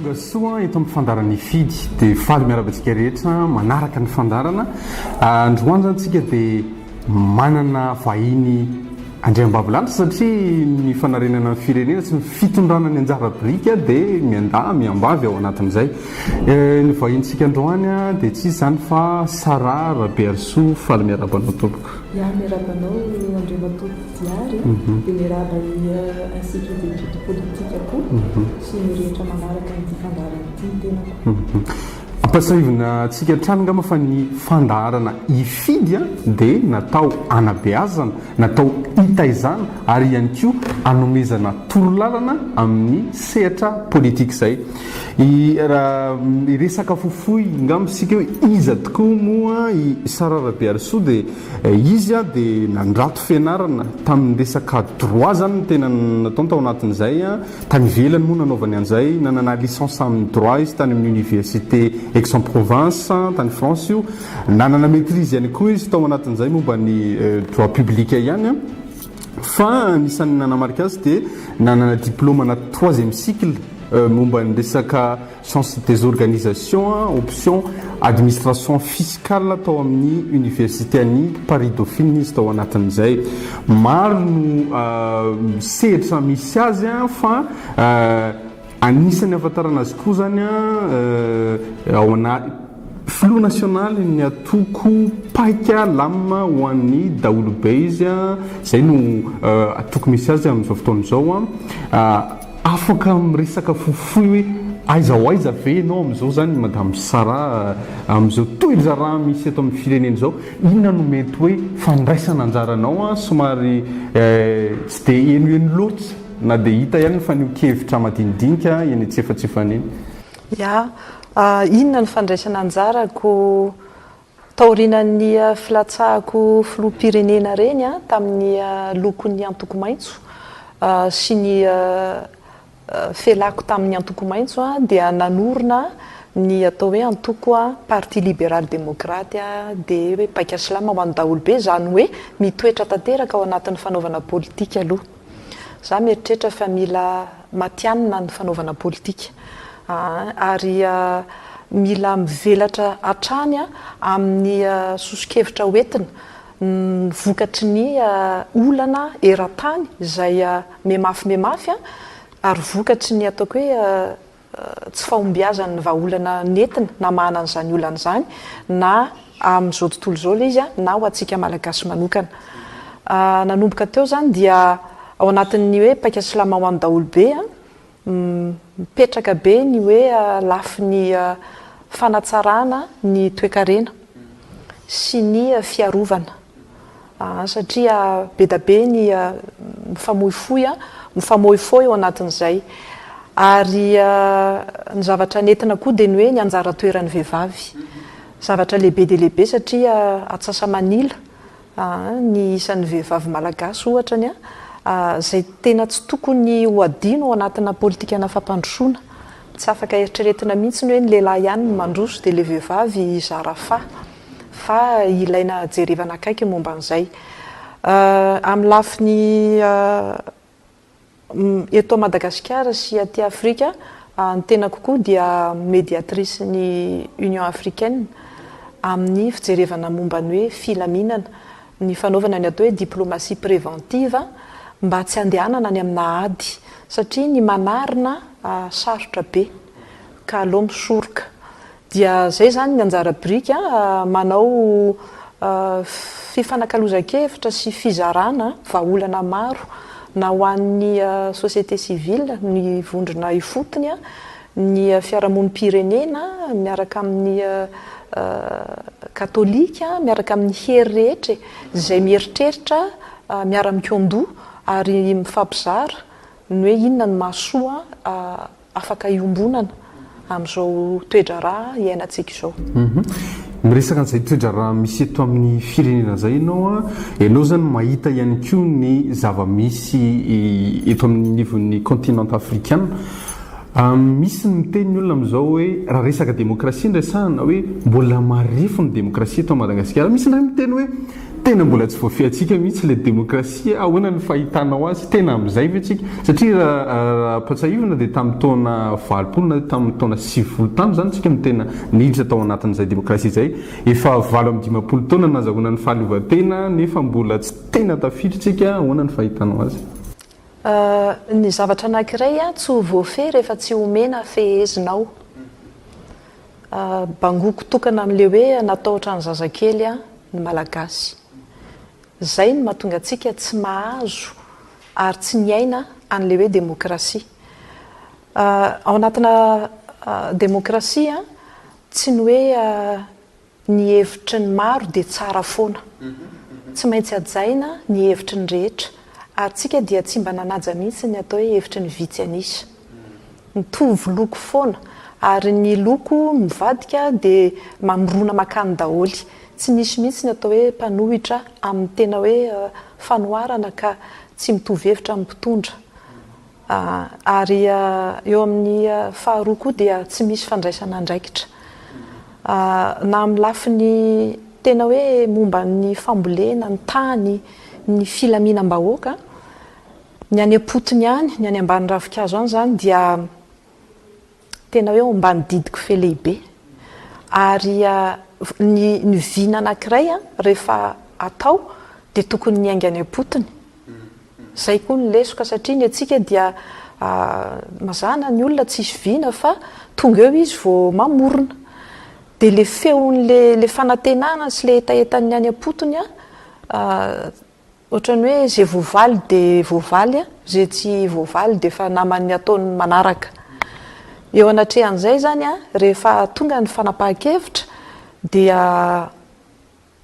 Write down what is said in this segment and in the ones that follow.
Tonga soa eto amin'ny fandaran'ny fidy dia faly miarahaba antsika rehetra manaraka ny fandarana. Androany zany tsika dia manana vahiny andriambavilanitra satria ny fanarenana ny firenena sy ny fitondrana ny anjara birika dia miandà miambavy ao anatin'izay. Eh, ny vahintsika androany dia tsy izany fa Sarah Rabearisoa faly miarahaba anao tompoko. Ya miarahaba anao Andriamatoa Diary, dia miarahaba ny Institut d'Etudes Politiques koa sy ny rehetra manaraka ity fandaharana ity ny tenako. Ampasahivina antsika hatrany angamba fa ny fandaharana hifidy dia natao hanabeazana, natao hitaizana ary ihany koa hanomezana torolalana amin'ny sehatra politika izay. I ra hiresaka fofoy ngamba isika hoe iza tokoa moa i Sara Rabearisoa dia izy dia nandrato fianarana tamin'ny resaka droit zany no tena nataony tao anatin'izay tany ivelany moa nanaovany an'izay nanana licence amin'ny droit izy tany amin'ny université Aix-en-Provence tany France io nanana maitrise ihany koa izy tao anatin'izay momba ny droit public ihany Fa anisan'ny nanamarika azy dia nanana diplôma na troisième cycle momba ny resaka sciences des organisations, option administration fiscale tao amin'ny Oniversite an'i Paris Dauphine izy tao anatin'izay. Maro no sehatra misy azy fa Anisan'ny ahafantarana azy koa izany ao anaty Filoha nasionaly ny antoko Paika lamina ho an'ny daholobe izy, izay no antoko misy azy amin'izao fotoana izao. Afaka miresaka fohifohy hoe aiza ho aiza ve ianao amin'izao izany Madame Sara, amin'izao toe-draharaha misy eto amin'ny firenena izao, inona no mety hoe fandraisana anjaranao somary tsy dia henoheno loatra? Na dia hita ihany ny fanehoan-kevitra madinidinika eny antsefatsefany eny. Ya, inona ny fandraisana anjarako taorianan'ny filatsahako filoham-pirenena reny tamin'ny lokon'ny antoko maitso sy ny felako tamin'ny antoko maitso dia nanorina ny atao hoe antoko Parti Libéral Démocrate dia hoe paika silamo ho an'ny daholobe izany hoe mitoetra tanteraka ao anatin'ny fanaovana politika aloha Za mieritreritra fa mila matianina ny fanaovana politika ary mila mivelatra hatrany amin'ny soso-kevitra ho entina ny vokatry ny olana eran-tany izay mihemafy mihemafy ary vokatry ny ataoko hoe tsy fahombiazan'ny vahaolana nentina namahana an'izany olana izany na amin'izao tontolo izao ilay izy na ho antsika Malagasy manokana. Nanomboka teo izany dia ao anatin'ny hoe paika silama ho an'ny daholobe, mipetraka be ny hoe lafiny fanatsarana ny toekarena sy ny fiarovana. satria bedabe ny mifamoifoy, mifamoifoi ao anatin'izay. Ary ny zavatra nentina koa dia ny hoe ny anjara toeran'ny vehivavy. Zavatra lehibe dia lehibe satria atsasa-manila ny isan'ny vehivavy malagasy ohatra ny izay tena tsy tokony ho adino ao anatina politikana fampandrosoana. Tsy afaka eritreretina mihitsy ny hoe ny lehilahy ihany no mandroso dia ilay vehivavy hizara faha. fa ilaina jerevana akaiky ny momba an'izay. Amin'ny lafiny eto Madagasikara sy aty Afrika, ny tenako koa dia mediatrice ny Union Africaine amin'ny fijerevana momba ny hoe filaminana, ny fanaovana ny atao hoe diplomatie préventive mba tsy handehanana any amina ady satria ny manarina sarotra be. ka aleo misoroka dia zay zany ny anjara biriky a manao fifanakalozan-kevitra sy fizarana vahaolana maro na ho an'ny société civile ny vondrona ifotony a ny fiarahamonim-pirenena miaraka amin'ny katolika miaraka amin'ny hery rehetra e izay mieritreritra miara-mikoandoha ary mifampizara ny hoe inona no mahasoa afaka iombonana amin'izao toe-draharaha iainantsika izao. Miresaka an'izay toe-draharaha misy eto amin'ny firenena izay ianao an, ianao izany mahita ihany koa ny zava-misy eto amin'ny anivon'ny continent afrikana. Misy ny miteny ny olona amin'izao hoe raha resaka demokrasia no resahana hoe mbola marefo ny demokrasia eto Madagasikara. Misy indray miteny hoe Tena mbola tsy voafehintsika mihitsy ilay demokrasia, ahoana no fahitanao azy? Tena amin'izay ve tsika? Satria raha ampatsahivina dia tamin'ny taona valopolo na tamin'ny taona sivifolo tany izany tsika no tena niditra tao anatin'izay demokrasia izay. Efa valo amby dimampolo taona nazahoana ny fahaleovantena nefa mbola tsy tena tafiditra tsika, ahoana no fahitanao azy? Ny zavatra anankiray tsy ho voafehy rehefa tsy omena fehezina ao. Bangoko tokana amin'le hoe natahotra ny zazakely ny Malagasy. Zay no mahatonga antsika tsy mahazo ary tsy miaina an'le hoe demokrasia. Ao anatina demokrasia tsy ny hoe Ny hevitry ny maro dia tsara foana. Tsy maintsy hajaina ny hevitry ny rehetra, ary tsika dia tsy mba nanaja mihitsy ny atao hoe hevitry ny vitsy an'isa. Mitovy loko foana, ary ny loko mivadika dia mamorona makany daholo. Tsy misy mihitsy ny atao hoe mpanohitra amin'ny tena hoe fanoharana ka tsy mitovy hevitra amin'ny mpitondra. Ary eo amin'ny faharoa koa dia tsy misy fandraisana andraikitra na amin'ny lafiny tena hoe momba ny fambolena, ny tany, ny filaminam-bahoaka. Ny any am-potony any, ny any ambany ravinkazo any izany dia. Tena hoe ao ambany didiko fe lehibe. Ary ny ny vina anankiray rehefa atao dia tokony miainga any am-potony. Izay koa no lesoka satria ny antsika dia mazàna ny olona tsisy vina fa tonga eo izy vao mamorona. Dia le feon'le le fanantenana sy le hetahetan'ny any am-potony Otrany hoe ze voavaly de voavaly a, ze tsy voavaly de efa naman'ny ataony manaraka. Eo anatrehan'izay zany a, rehefa tonga ny fanapahan-kevitra dia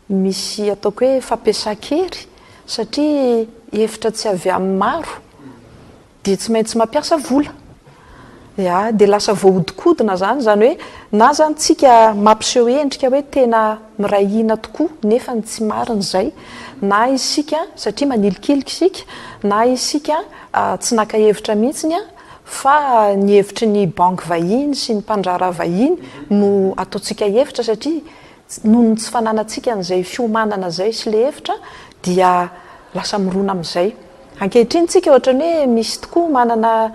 misy ataoko hoe fampiasan-kery satria hevitra tsy avy amin'ny maro dia tsy maintsy mampiasa vola ya dia lasa voahodikodina zany izany hoe na zany tsika mampiseho endrika hoe tena miray hina tokoa nefa ny tsy marina izay na isika satria manilikilika isika na isika tsy naka hevitra mihitsiny an fa ny hevitry ny banky vahiny sy ny mpandraharaha vahiny no ataontsika hevitra satria noho ny tsy fananantsika an'izay fiomanana izay sy ilay hevitra dia lasa mirona amin'izay Ankehitriny tsika ohatran'ny hoe misy tokoa manana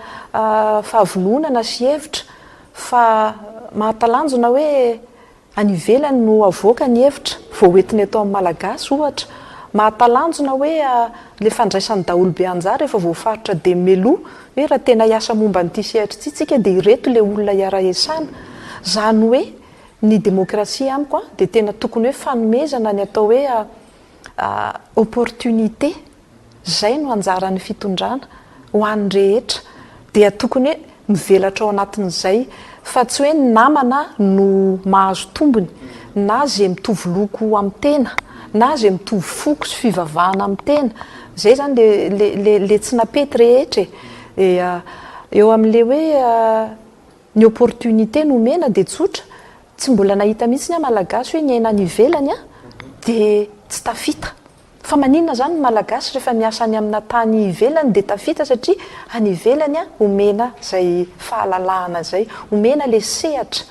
fahavononana sy hevitra fa mahatalanjona hoe any ivelany no avoaka ny hevitra vao ho entina eto amin'ny Malagasy ohatra. Mahatalanjona hoe ilay fandraisan'ny daholobe anjara efa voafaritra dia meloa hoe raha tena hiasa momba an'ity sehatra ity tsika dia ireto ilay olona hiara-hiasana. Izany hoe ny demokrasia amiko an dia tena tokony hoe fanomezana ny atao hoe opportunité. Izay no anjaran'ny fitondrana, ho an'ny rehetra, dia tokony hoe mivelatra ao anatin'izay, fa tsy hoe ny namana no mahazo tombony, na izay mitovy loko amin'ny tena, na izay mitovy foko sy fivavahana amin'ny tena, izay izany ilay ilay ilay tsy napety rehetra e! dia eo amin'ilay hoe ny opportunité nomena dia tsotra, tsy mbola nahita mihitsy aho Malagasy hoe niaina any ivelany an, dia tsy tafita. Fa maninona zany ny malagasy refa miasa any amina tany ivelany de tafita satria any ivelany a omena zay fahalalahana zay omena le sehatra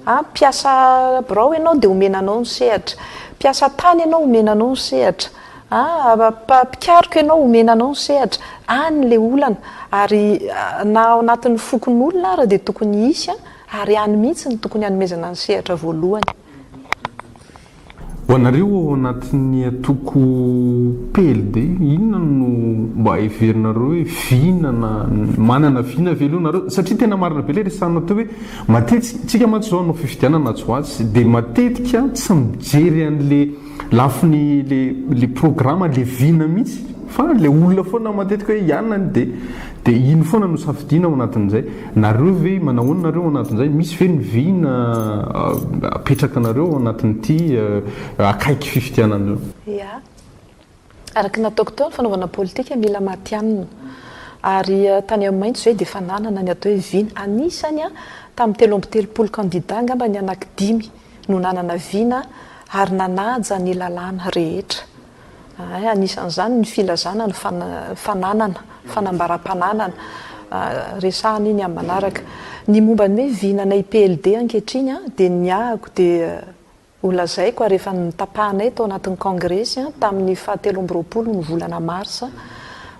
a mpiasa birao enao de omena anao ny sehatra mpiasa tany enao omena anao ny sehatra a mpikaroka enao omena anao ny sehatra any le olana ary na ao anatiny fokonolona ary de tokony hisy a ary any mihitsy no tokony hanomezana ny sehatra voalohany. Ho anareo ao anatin'ny antoko PLD, inona no mba heverinareo hoe vina na manana vina ve aloha nareo? Satria tena marina be ilay resahanao teo hoe matetika, isika mantsy izao hanao fifidianana atsy ho atsy dia matetika tsy mijery an'ilay lafiny ilay programa, ilay vina mihitsy fa ilay olona foana matetika hoe i anona anie dia Dia ino foana no safidiana ao anatin'izay? Nareo ve, manao ahoana nareo ao anatin'izay? Misy ve ny vina apetrakanareo ao anatin'ity akaiky fifidianana io? Ia. Araka ny nataoko teo, ny fanaovana politika mila matihanina. Ary tany amin'ny maitso izay dia efa nanana ny atao hoe vina. Anisany tamin'ny telo amby telopolo kandida angamba ny anaky dimy no nanana vina ary nanaja ny lalàna rehetra. Ahay, anisan'izany ny filazana ny fananana, fanambaram-pananana, resahana iny amin'ny manaraka. Ny momba ny hoe vinana IPLD ankehitriny dia niahako dia holazaiko ary efa notapahanay tao anatin'ny kongresy tamin'ny faha telo amby roapolo ny volana marsa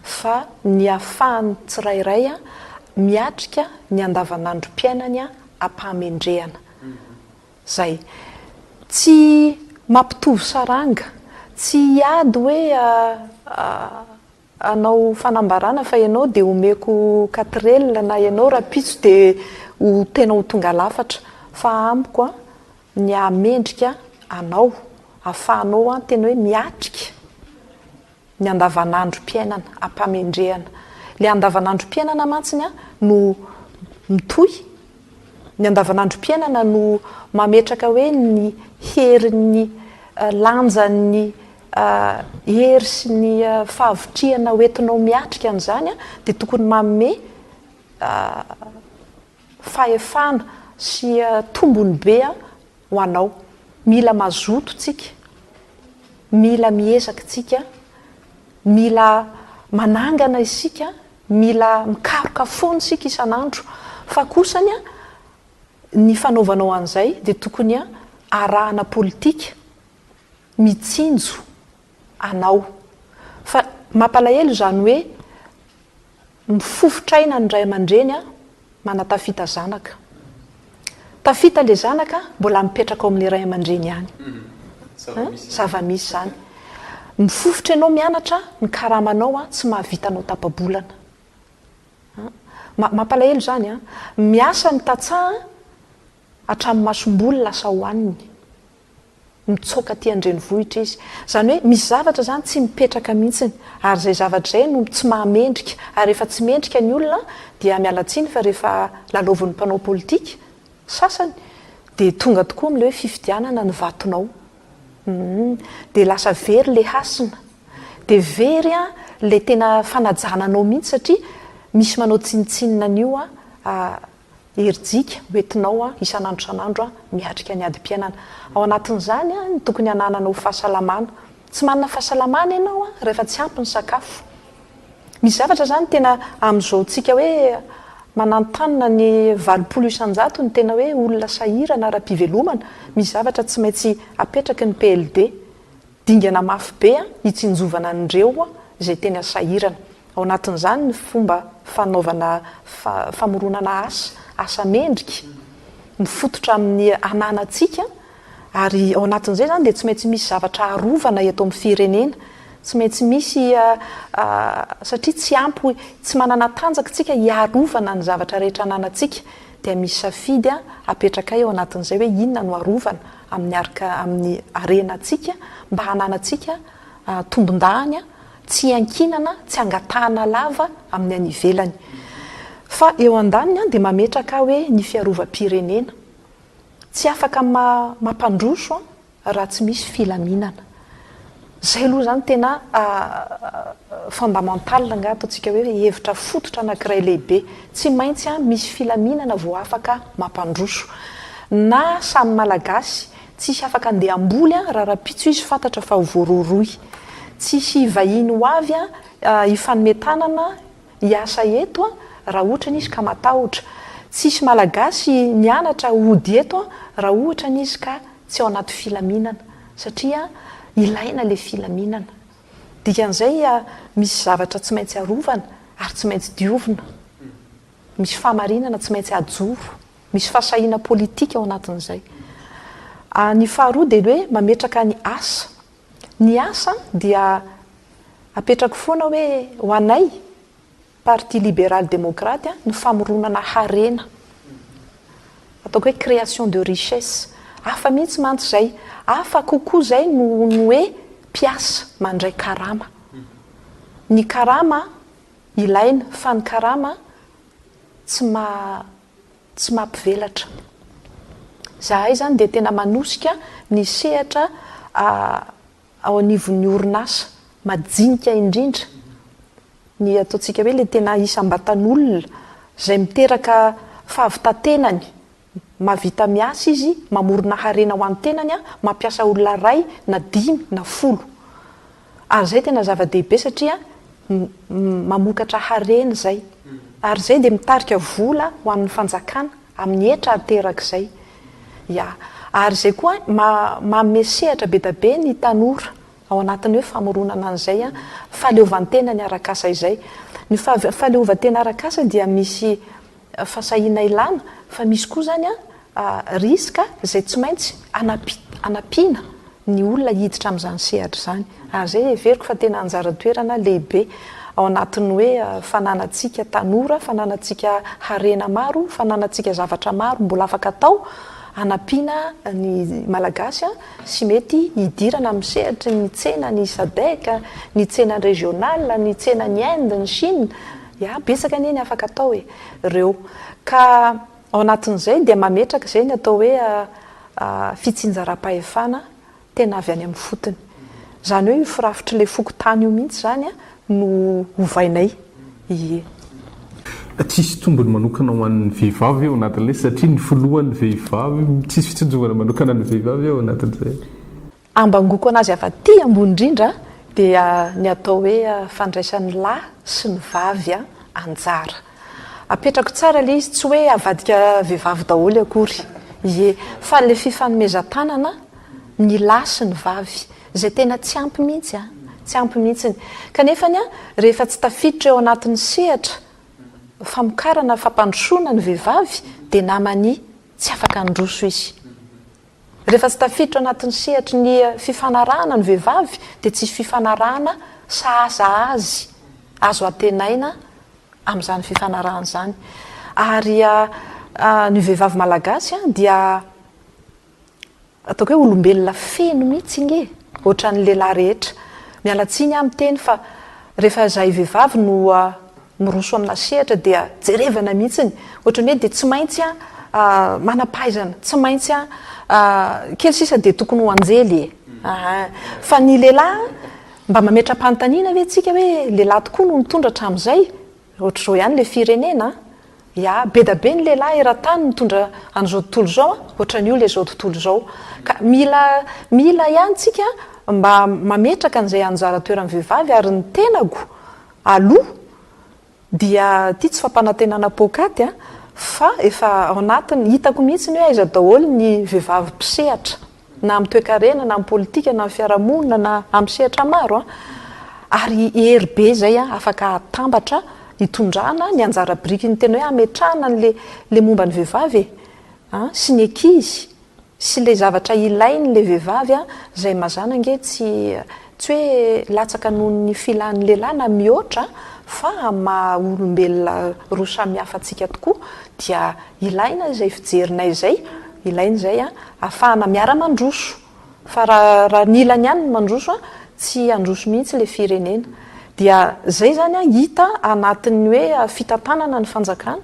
fa ny ahafahan'ny tsirairay miatrika ny andavanandrom-piainany am-pahamendrehana Zay. Tsy mampitovy saranga. Tsy hiady hoe hanao fanambarana fa ianao dia omeko quatrelle na ianao rahampitso dia ho tena ho tonga lafatra. Fa amiko an, ny hahamendrika anao, ahafahanao an tena hoe miatrika. Ny andavanandrom-piainana ampa-mendrehana. Ilay andavanandrom-piainana mantsiny an, no mitohy. Ny andavanandrom-piainana no mametraka hoe ny herin'ny lanjan'ny hery sy ny fahavitrihana ho entinao miatrika an'izany an, dia tokony manome fahefana sy tombony be ho anao. Mila mazoto tsika, mila miezaka tsika, mila manangana isika, mila mikaroka foana isika isan'andro, fa kosany ny fanaovanao an'izay dia tokony arahana politika mitsinjo anao. Fa mampalahelo izany hoe Mifofotra aina ny ray aman-dreny manatafita zanaka. Tafita ilay zanaka mbola mipetraka ao amin'ilay ray aman-dreny ihany. Zava-misy izany. Mifofotra ianao mianatra, ny karamanao tsy mahavita anao tapa-bolana. Mampalahelo izany an! Miasa ny tantsaha hatramin'ny masomboly lasa hohaniny. mitsoaka aty an-drenivohitra izy. Izany hoe misy zavatra izany tsy mipetraka mihitsy ary izay zavatra izay no tsy mahamendrika ary rehefa tsy mendrika ny olona dia miala tsiny fa rehefa lalaovin'ny mpanao politika sasany dia tonga tokoa amin'ilay hoe fifidianana ny vatonao. Humm. Dia lasa very ilay hasina. Dia very ilay tena fanajana anao mihitsy satria misy manao tsinontsinona an'io herijika ho entinao isan'andro isan'andro miatrika ny adim-piainana. Ao anatin'izany ny tokony hananana ho fahasalamana. Tsy manana fahasalamana ianao rehefa tsy ampy ny sakafo. Misy zavatra izany tena amin'izao tsika hoe mananontanona ny valopolo isan-jato ny tena hoe olona sahirana ara-pivelomana, misy zavatra tsy maintsy apetraky ny PLD. Dingana mafy be hitsinjovana an'ireo izay tena sahirana. Ao anatin'izany ny fomba fanaovana famoronana asa, asa mendrika, mifototra amin'ny ananantsika, ary ao anatin'izay izany dia tsy maintsy misy zavatra arovana eto amin'ny firenena, tsy maintsy misy satria tsy ampy, tsy manana tanjaka isika hiarovana ny zavatra rehetra ananantsika, dia misy safidy apetrakay ao anatin'izay hoe inona no arovana. miarka amin'ny harenantsika mba hananantsika tombondahany tsy iankinana, tsy angatahana lava amin'ny any ivelany. Fa eo andaniny dia mametraka hoe ny fiarovam-pirenena. Tsy afaka mampandroso raha tsy misy filaminana. Izay aloha izany tena fondamental angaha ataontsika hoe hevitra fototra anankiray lehibe. Tsy maintsy misy filaminana vao afaka mampandroso. Na samy Malagasy, tsisy afaka handeha hamboly raha rahampitso izy fantatra fa ho voarohirohy. Tsisy vahiny ho avy hifanome tanana hiasa eto raha ohatra izy ka matahotra. Tsisy Malagasy mianatra hody eto raha ohatra izy ka. tsy ao anaty filaminana satria ilaina ilay filaminana. Dikan'izay misy zavatra tsy maintsy arovana ary tsy maintsy diovina. Misy fahamarinana tsy maintsy ajoro. Misy fahasahiana politika ao anatin'izay. Ny faharoa dia ny hoe mametraka ny asa. Ny asa dia apetrako foana hoe ho anay. Parti Libéral Démocrate, ny famoronana harena, ataoko hoe création de richesse. Hafa mihitsy mantsy izay, hafa kokoa izay noho ny hoe mpiasa mandray karama. Ny karama ilaina, fa ny karama tsy maha, tsy maha mpivelatra. Izahay izany dia tena manosika ny sehatra, ao anivon'ny orinasa majinika indrindra ny ataontsika hoe ilay tena isam-batan'olona izay miteraka fahavitan-tenany, mahavita miasa izy, mamorona harena ho an'ny tenany, mampiasa olona iray na dimy na folo. Ary izay tena zava-dehibe satria mamokatra harena izay. Ary izay dia mitarika vola ho an'ny fanjakana. Amin'ny hetra ateraka izay. Ya. Ary izay koa, manome sehatra be dia be ny tanora ao anatin'ny hoe famoronana an'izay fahaleovantenany arak'asa izay. Ny fahaleovantena arak'asa dia misy fahasahiana ilana, fa misy koa izany risque izay tsy maintsy anampiana. ny olona hiditra amin'izany sehatra izany. Ary izay heveriko fa tena anjara toerana lehibe ao anatin'ny hoe fananantsika tanora, fananantsika harena maro, fananantsika zavatra maro mbola afaka atao hanampiana ny Malagasy sy mety hidirana amin'ny sehatry ny tsenan'ny Sadec, ny tsena régional, ny tsenan'i Inde, ny Chine, ya, betsaka anie ny afaka atao e! reo ka. Ao anatin'izay dia mametraka izay ny atao hoe fitsinjaram-pahefana tena avy any amin'ny fotony. Izany hoe io firafitr'ilay fokontany io mihitsy izany no ovainay. Ie. Tsisy tombony manokana ho an'ny vehivavy ao anatin'ilay satria ny filohan'ny vehivavy, tsisy fitsinjovana manokana an'ny vehivavy ao anatin'izay. Ambangoako an'azy avy aty ambony indrindra dia ny atao hoe fandraisan'ny lahy sy ny vavy anjara. Apetrako tsara ilay izy, tsy hoe avadika vehivavy daholo akory, ie, fa ilay fifanomezan-tanana ny lahy sy ny vavy, izay tena tsy ampy mihitsy, tsy ampy mihitsy. Kanefa, rehefa tsy tafiditra eo anatin'ny sehatra famokarana, fampandrosoana ny vehivavy dia naman'ny tsy afaka handroso izy. Rehefa tsy tafiditra anatin'ny sehatry ny fifanarahana ny vehivavy dia tsy fifanarahana sahasahazy azo antenaina amin'izany fifanarahana izany. Ary ny vehivavy malagasy dia ataoko hoe olombelona feno mihitsy anie e! Ohatran'ny lehilahy rehetra. Miala tsiny aho miteny fa rehefa izahay vehivavy no miroso amina sehatra dia jerevana mihitsiny ohatran'ny hoe dia tsy maintsy a manam-pahaizana tsy maintsy a kely sisa dia tokony ho anjely e aa fa ny lehilahy mba mametra-panontaniana ve tsika hoe lehilahy tokoa no nitondra hatramin'izay ohatr'izao ihany le firenena ya be da be ny lehilahy eran-tany nitondra an'izao tontolo izao a ohatran'io le zao tontolo izao ka mila mila ihany tsika mba mametraka an'izay anjara toeran'ny vehivavy ary ny tenako aloha dia ity tsy fampanantenana poakaty a, fa efa ao anatin'ny, hitako mihitsy ny hoe aiza daholo ny vehivavy mpisehatra na amin'ny toekarena na amin'ny politika na amin'ny fiarahamonina na amin'ny sehatra maro a, ary hery be izay a afaka hatambatra hitondrana ny anjara biriky ny tena hoe hametrahana an'ilay momba ny vehivavy e, sy ny ankizy Sy le zavatra ilainy le vevavy a, zay mazana ange tsy tsy hoe latsaka noho ny filan'ny lehilahy na mihoatra fa amin'ny maha olombelona roa samihafa antsika tokoa dia ilaina izay fijerinay izay, ilaina izay a, afahana miara mandroso. Fa raha raha ny ilany ihany no mandroso a, tsy handroso mihitsy le firenena. Dia zay zany a hita anatin'ny hoe fitantanana ny fanjakana.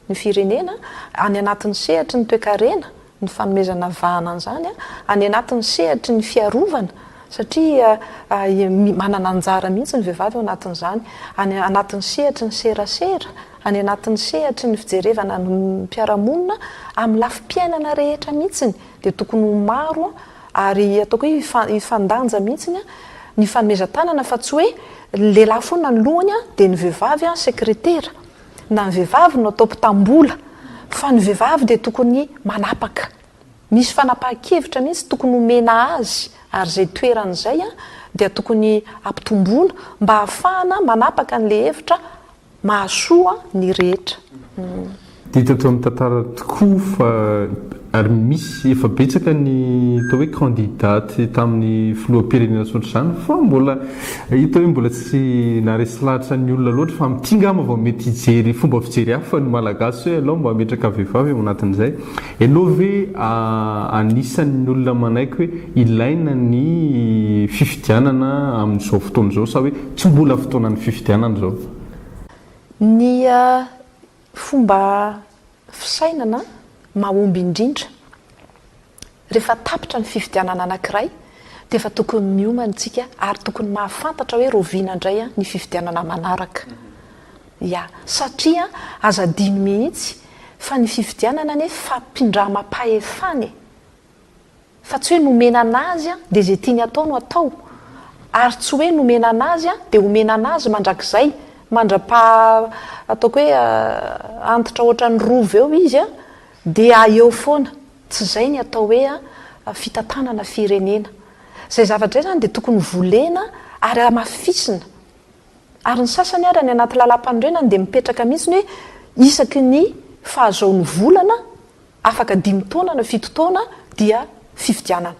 ny firenena any anatin'ny sehatry ny toekarena ny fanomezana vahana an'izany any anatin'ny sehatry ny fiarovana satria manana anjara mihitsy ny vehivavy ao anatin'izany any anatin'ny sehatry ny serasera any anatin'ny sehatry ny fijerevana ny mpiara-monina amin'ny lafim-piainana rehetra mihitsy dia tokony ho maro ary ataoko hoe hifandanja mihitsy ny fanomezan-tanana fa tsy hoe ny lehilahy foana ny lohany dia ny vehivavy sekretera na ny vehivavy no atao mpitam-bola fa ny vehivavy dia tokony manapaka misy fanapahan-kevitra mihitsy tokony homena azy ary izay toerany izay dia tokony hampitomboina mba hahafahana manapaka an'ilay hevitra mahasoa ny rehetra. Hita eto amin'ny tantara tokoa fa Ary misy, efa betsaka ny atao hoe candidats tamin'ny filoham-pirenena tsy ohatr'izany fa mbola hita hoe mbola tsy naharesy lahatra ny olona loatra fa amin'ity ngamba vao mety hijery fomba fijery hafa ny Malagasy hoe alao mba hametraka vehivavy ao anatin'izay ianao ve anisan'ny olona manaiky hoe ilaina ny fifidianana amin'izao fotoana izao sa hoe tsy mbola fotoanan'ny fifidianana izao? Ny fomba Fisainana mahomby indrindra. Rehefa tapitra ny fifidianana anankiray dia efa tokony miomana isika ary tokony mahafantatra hoe raoviana indray ny fifidianana manaraka. Ya. Satria aza adino mihitsy fa ny fifidianana anie fampindramam-pahefana e! fa tsy hoe nomena an'azy dia izay tiany atao no atao, ary tsy hoe nomena an'azy dia omena an'azy mandrakizay, mandra-pa ataoko hoe antitra ohatran'ny rova eo izy dia eo foana, tsy izay ny atao hoe fitantanana firenena. Izay zavatra izay izany dia tokony volena ary hamafisina, ary ny sasany ary any anaty lalam-panorenany dia mipetraka mihintsy ny hoe isaky ny fahazoany volana Afaka dimy taona na fito taona dia fifidianana.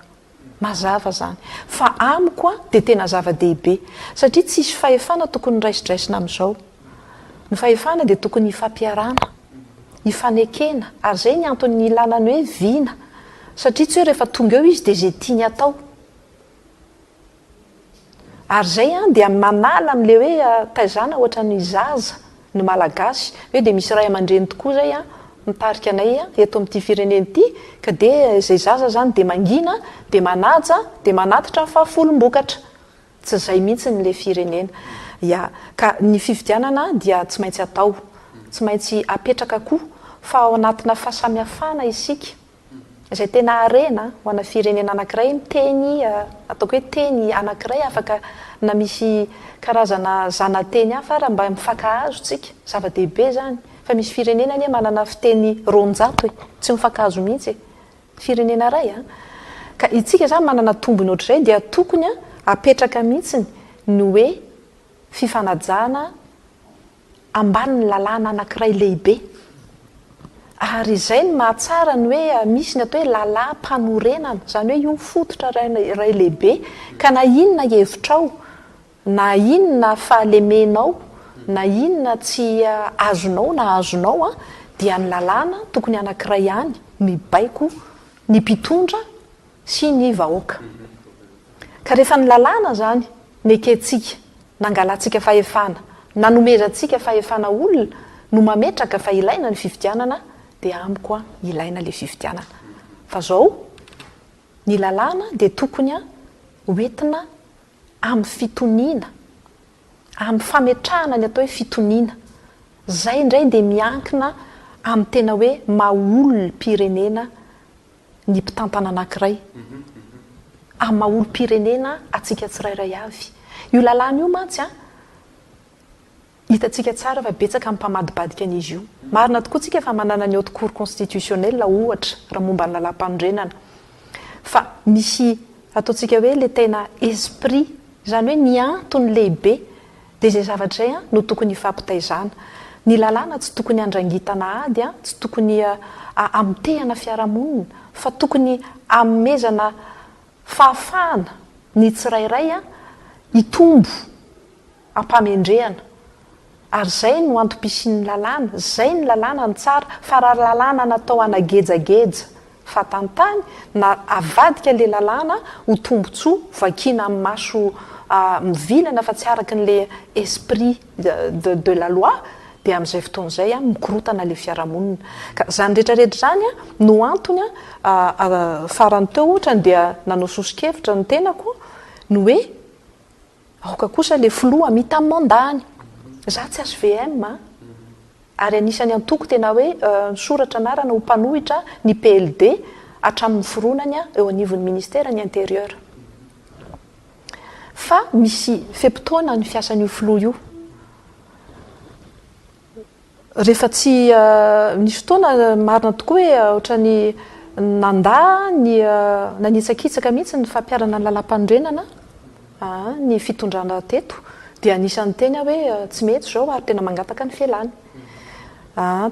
Mazava zany. Fa amiko an, dia tena zava-dehibe. Satria tsisy fahefana tokony raisodraisina amin'izao. Ny fahefana dia tokony hifampiarana, hifanekena. Ary izay ny antony nilana ny hoe vina. Satria tsy hoe rehefa tonga eo izy dia izay tiany atao. Ary zay an dia manala amle hoe taizana ohatran'ny zaza ny malagasy hoe dia misy ray amandreny tokoa zay an mitarika anay eto amin'ity firenena ity ka dia zay zaza zany dia mangina dia manaja dia manatitra ny fahafolom-bokatra tsy zay mihitsy ny le firenena ya ka ny fifidianana dia tsy maintsy atao tsy maintsy apetraka koa fa ao anatina fahasamihafana isika izay tena harena ho ana firenena anankiray miteny ataoko hoe teny anankiray afaka na misy karazana zanateny hafa ara mba mifankahazo tsika zava dehibe zany fa misy firenena anie manana fiteny roanjato e tsy mifankahazo mihitsy e firenena ray a ka itsika zany manana tombony ohatrizay dia tokony a apetraka mihitsy ny hoe fifanajana ambanin'ny lalàna anankiray lehibe. Ary izay no mahatsara ny hoe misy ny atao hoe lalàm-panorenana, izany hoe io fototra iray lehibe ka na inona hevitrao, na inona fahalemenao, na inona tsy azonao na azonao an, dia ny lalàna tokony anankiray ihany no hibaiko ny mpitondra, sy ny vahoaka. Ka rehefa ny lalàna izany nekentsika, nangalantsika fahefana, nanomezantsika fahefana olona no mametraka fa ilaina ny fifidianana dia amiko an ilaina ilay fifidianana. Fa izao ny lalàna dia tokony an ho entina amin'ny fitoniana, amin'ny fametrahana ny atao hoe fitoniana. Izay indray dia miankina amin'ny tena hoe maha olom-pirenena ny mpitantana anankiray amin'ny maha olom-pirenena antsika tsirairay avy. Io lalàna io mantsy an, hitantsika tsara fa betsaka ny mpamadibadika an'izy io. Marina tokoa tsika fa manana ny Haute Cour Constitutionnelle ohatra raha momba ny lalàmpanorenana. Fa misy ataontsika hoe ilay tena esprit, izany hoe ny antony lehibe Dia izay zavatra izay no tokony hifampitaizana. Ny lalàna tsy tokony handrangitana ady, tsy tokony hamotehana fiarahamonina, fa tokony hanomezana fahafahana ny tsirairay hitombo am-pahamendrehana. Ary izay no antom-pisian'ny lalàna, izay ny lalàna no tsara, fa raha lalàna natao hanagejageja vatantany na avadika ilay lalàna ho tombotsoa vakiana amin'ny maso mivilana fa tsy araka an'ilay esprit de de la loi dia amin'izay fotoana izay mikorotana ilay fiarahamonina. Ka izany rehetra rehetra izany no antony farany teo ohatrany dia nanao soso-kevitra ny tenako ny hoe Aoka kosa le filoha mita mandat ny. Za tsy HVM a! Ary anisany antoko tena hoe nisoratra anarana ho mpanohitra ny PLD hatramin'ny niforonany eo anivon'ny ministera ny interieur. Fa misy fe-potoana ny fiasan'io filoha io. Rehefa tsy nisy fotoana, marina tokoa hoe ohatran'ny nandà ny, nanitsakitsaka mihitsy ny fampiharana ny Lalàmpanorenana ny fitondrana teto, dia anisan'ny niteny aho hoe tsy mety izao ary tena mangataka ny fialàny.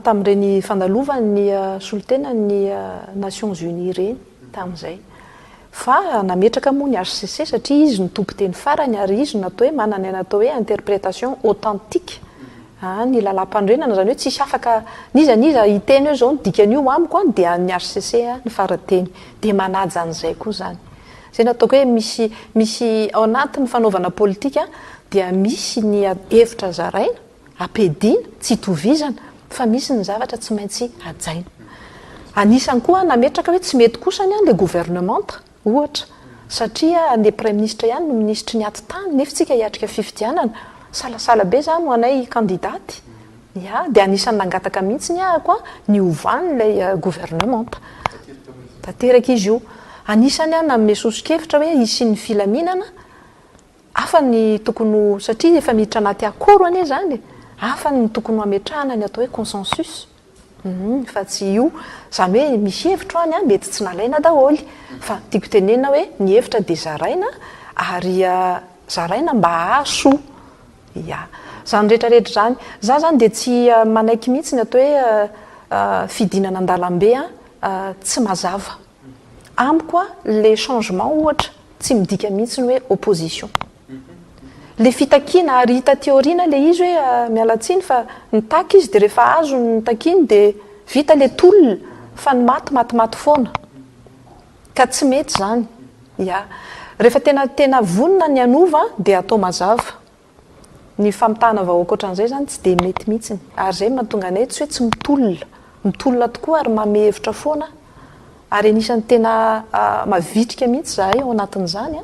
Tamin'ireny fandalovany ny solontenan'ny Nations Unies ireny. tamin'izay. Fa nametraka moa ny hcc satria izy no tompon-teny farany ary izy no atao hoe manana ny atao hoe interprétation authentique ny lalàmpanorenana, izany hoe tsisy afaka n'iza n'iza hiteny hoe izao no dikan'io amiko an, dia an'ny hcc ny fara-teny. Dia manaja an'izay koa izany. Izay no ataoko hoe misy misy ao anatin'ny fanaovana politika dia misy ny hevitra zaraina, Ampiadiana, tsy itovizana, fa misy ny zavatra tsy maintsy hajaina. Anisany koa nametraka hoe tsy mety kosa ny an le gouvernementa, ohatra, satria an le praiminisitra ihany no minisitry ny ati-tany, nefy tsika hiatrika fifidianana, salasala be zany ho anay kandidaty. Ya, dia anisany nangataka mihitsy ny ahako an ny hovany ilay gouvernementa. Tanteraka izy io. Anisany an nanome soso-kevitra hoe hisian'ny filaminana, Hafa ny tokony ho, satria efa miditra anaty akoro anie izany e, hafa ny tokony ho ametrahana ny atao hoe consensus. Humm, fa tsy io. Izany hoe misy hevitro any an, mety tsy nalaina daholo. Fa tiako tenenina hoe ny hevitra dia zaraina ary zaraina mba hahasoa. Ia. Izany rehetrarehetra izany. Izaho izany dia tsy manaiky mihitsy ny atao hoe fidinana an-dalambe an, tsy mazava. Amiko a le changement ohatra tsy midika mihitsy ny hoe opposition. Le fitakiana ary hita aty aoriana le izy hoe miala tsiny fa nitaky izy de rehefa azo ny nitakiany de vita le tolona fa ny maty matimaty foana. Ka tsy mety zany. Ya. Rehefa tena tena vonona ny hanova de atao mazava. Ny famitahana vahoaka ohatran'izay izany tsy dia mety mihitsy. Ary izay no mahatonga anay tsy hoe tsy mitolona. Mitolona tokoa ary manome hevitra foana. Ary anisan'ny tena mavitrika mihitsy izahay ao anatin'izany.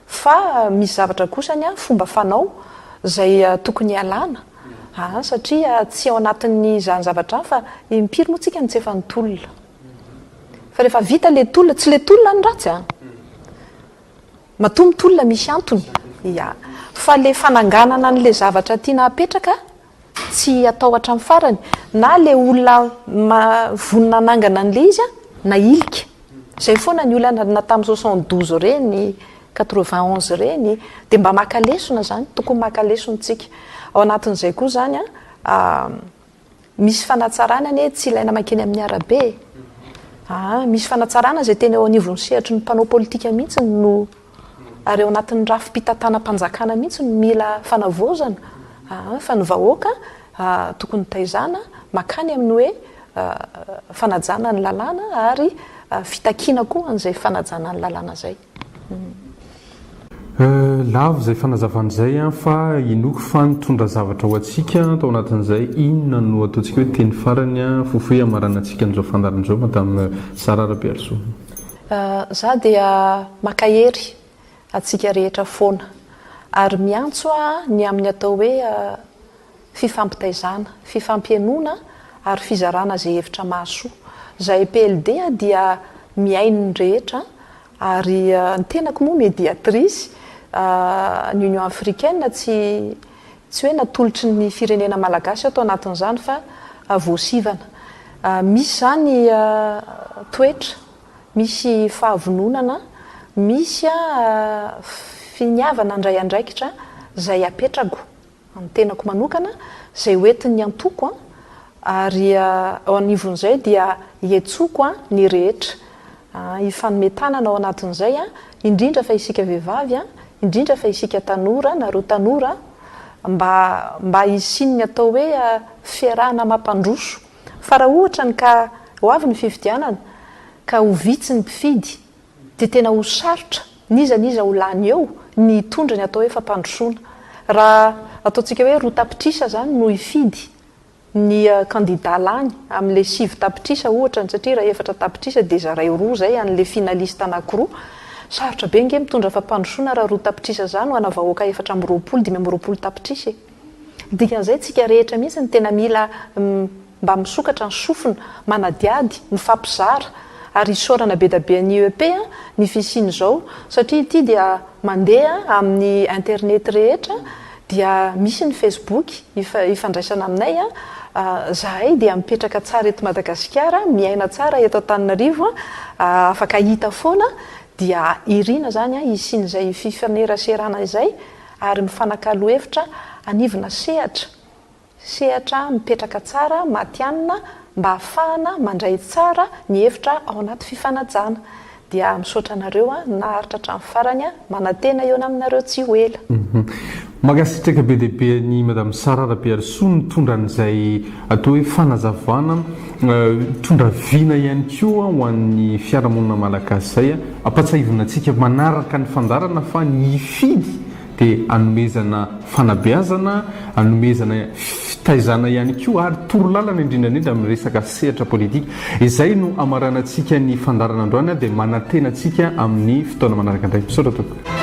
Fa misy zavatra kosany fomba fanao izay tokony hialana an, satria tsy ao anatin'izany zavatra izany fa impiry moa tsika no tsy efa nitolona. Fa rehefa vita ilay tolona, tsy ilay tolona no ratsy an! Matoa mitolona misy antony. Ya. Fa le fananganana an'le zavatra tiana hapetraka tsy atao hatramin'ny farany. Na le olona ma vonona hanangana an'le izy an, nahilika. Zay foana ny olana na tamin'ny soixante douze ireny, quatre vingt onze ireny. Dia mba maka lesona zany. Tokony maka lesona tsika. Ao anatin'izay koa zany an, Misy fanatsarana anie tsy ilaina mankeny amin'ny arabe e! Aa! Misy fanatsarana izay tena eo anivon'ny sehatry ny mpanao politika mihitsy no ary ao anatin'ny rafi-pitantanam-panjakana mihitsy no mila fanavaozana aa! Fa ny vahoaka aa! Tokony taizana mankany amin'ny hoe fanajana ny lalàna ary fitakiana koa an'izay fanajana ny lalàna izay. Lavo izay fanazavana izay fa inoako fa nitondra zavatra ho antsika tao anatin'izay, inona no ataontsika hoe teny farany fofoy hamaranantsika an'izao fandaharana izao Madame Sarah Rabearisoa? Za dia makahery antsika rehetra foana ary miantso aho ny amin'ny atao hoe fifampitaizana, fifampihenona ary fizarana izay hevitra mahasoa. Zahay PLD dia mihaino ny rehetra ary ny tenako moa mediatrice ny Union Africaine tsy tsy hoe natolotry ny firenena malagasy aho tao anatin'izany fa voasivana. Misy izany toetra, misy fahavononana, misy finiavana handray andraikitra izay apetrako. Ny tenako manokana, izay ho entin'ny antoko, ary eo anivon'izay dia hiantsoko ny rehetra. Hifanome tanana ao anatin'izay, indrindra fa isika vehivavy, indrindra fa isika tanora, nareo tanora, mba mba hisian'ny atao hoe fiarahana mampandroso. Fa raha ohatra ny ka ho avy ny fifidianana, ka ho vitsy ny mpifidy, dia tena ho sarotra n'iza n'iza ho lany eo ny hitondra ny atao hoe fampandrosoana. Raha ataontsika hoe roa tapitrisa izany no hifidy ny kandida lany amin'ilay sivy tapitrisa ohatra ny satria raha efatra tapitrisa dia zaraio roa izay an'ilay finaliste anankiroa. Sarotra be ange mitondra fampandrosoana raha roa tapitrisa izany ho ana vahoaka efatra amby roapolo, dimy amby roapolo tapitrisa e! Ny dikan'izay, tsika rehetra mihitsy no tena mila mba misokatra ny sofina, manadihady, mifampizara. Ary isaorana bedabe an'i IEP ny fisian'izao, satria ity dia mandeha amin'ny internet rehetra, dia misy ny Facebook ifandraisana aminay, zahay dia mipetraka tsara eto Madagasikara, miaina tsara eto Antananarivo, afaka hita foana, dia irina izany hisian'izay fifaneraserana izay, ary mifanakalo hevitra hanivona sehatra, sehatra mipetraka tsara, matihanina, mba hahafahana mandray tsara ny hevitra ao anaty fifanajana. Dia misaotra anareo an, naharitra hatramin'ny farany an, manantena hihaona aminareo tsy ho ela. Mankasitraka be dia be an'i Madame Sara Rabearisoa nitondra an'izay atao hoe fanazavana. Mitondra vina ihany koa ho an'ny fiarahamonina malagasy izay. Ampahatsiahivina antsika manaraka ny fandaharana fa ny hifidy dia anomezana fanabeazana, anomezana fitaizana ihany koa ary torolalana indrindra indrindra amin'ny resaka sehatra politika. Izay no hamaranantsika ny fandaharana androany dia manantena antsika amin'ny fotoana manaraka indray. Misaotra tompoko.